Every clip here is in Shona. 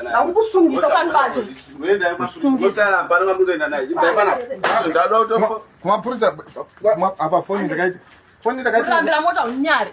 Nakukusungisa sanibati. Wenda kusungisa la bana ngamukenda naye. Imba bana. Ndadwa utofa. Kuma purisa apa phone ndakaita. Phone ndakaita. Kurambira mota unyari.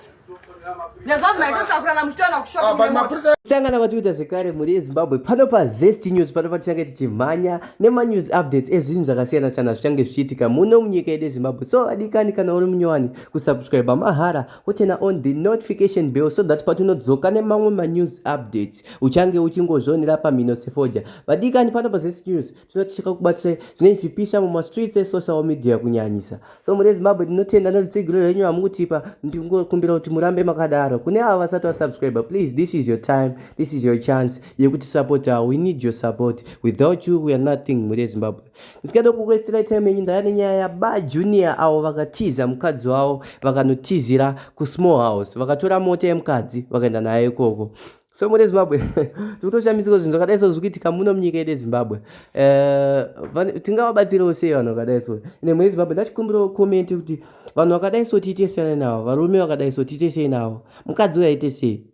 sangana vatiuta zvekare mhuri yezimbabwe pano pazest news pano patichange tichimhanya nemanews updates ezvinhu zvakasiyana siyana zvichange zvichiitika muno munyika yedu yezimbabwe so adikani kana uri munyowani kusubscriba mahara wochena on the notification bell so that patinodzoka nemamwe manews updates uchange uchingozvionera pamhino sefoja vadikani pano pazese news tinoti chakakubatisai zvinenge zvichipisa mumastreets esocial media kunyanyisa so muri ezimbabwe tinotenda nerutsigiro rwenyu vamukutipa ndingokumbira kuti murambe makadaro kune avo vasati vasubscriber please this is your time this is your chance yekuti supportawo we need your support without you we are nothing muri ezimbabwe ndisikada kukuesera time yenyu ndaya nenyaya yaba junior avo vakatiza mukadzi wavo vakanotizira kusmall house vakatora mota yemukadzi vakaenda naye ikoko so mune zimbabwe tikutoshamisiko zvinhu zvakadai so zvikuitika muno munyika yedu yezimbabwe eh, tingawabatsirewo sei vanhu vakadai so ine mune zimbabwe ndachikumbirawo komenti kuti vanhu vakadai so tiite sei navo varume vakadai so tiite sei navo mukadzi uyo aite sei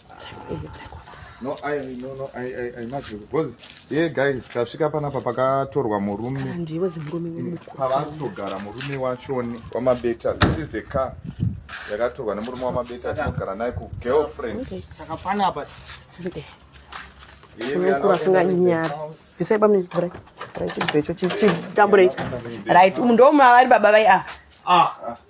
No, I, no, no, I, I, I must because yeah, guys, tasvika panapa pakatorwa murume ndiwe zimurume mm, pavatogara murume wachoni wamabeta this is the car yakatorwa nemurume wamabeta atinogara naye kugirlfriend saka panapa vasinganyari bvisai bamnibrai chibvecho chitambure right umu ndomavari baba vai a ah. ah.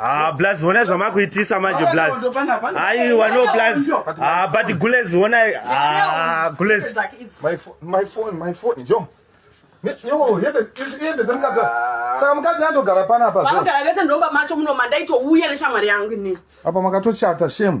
Ah, blaz honai zvamakuitisa manje blaz aiwa no blaz ah, but gulez honai ah, gulez saka mukadzi andogara panapa vagara vese ndomba macho muno mandaitouya neshamwari yangu ini apa makatochata shame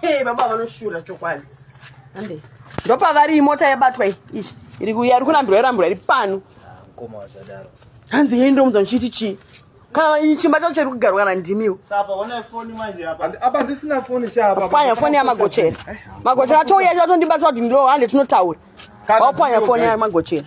Hey, baba vanoshura chokwadi. Hande. Ndopavari imota yabatwa iyi. Iri kuya iri kurambirwa irambirwa iri pano. Mkoma wasadaro. Hanzi yeye ndomunza ndichiti chii? Kana iyi chimba chacho chiri kugarwa kana ndimiwo. Sapa ona phone manje apa. Apa ndisina phone sha apa. Panya phone ya magochera. Eh, magochera atouya atondibatsa kuti ndiro hande tinotaura. Wapanya phone ya magochera.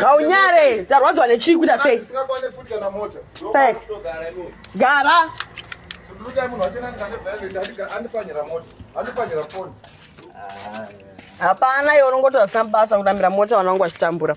ngaunyare tarwadziwa nechii kuita sei gara hapana iwe unongotaura zvisina basa kunamira mota vanangu vachitambura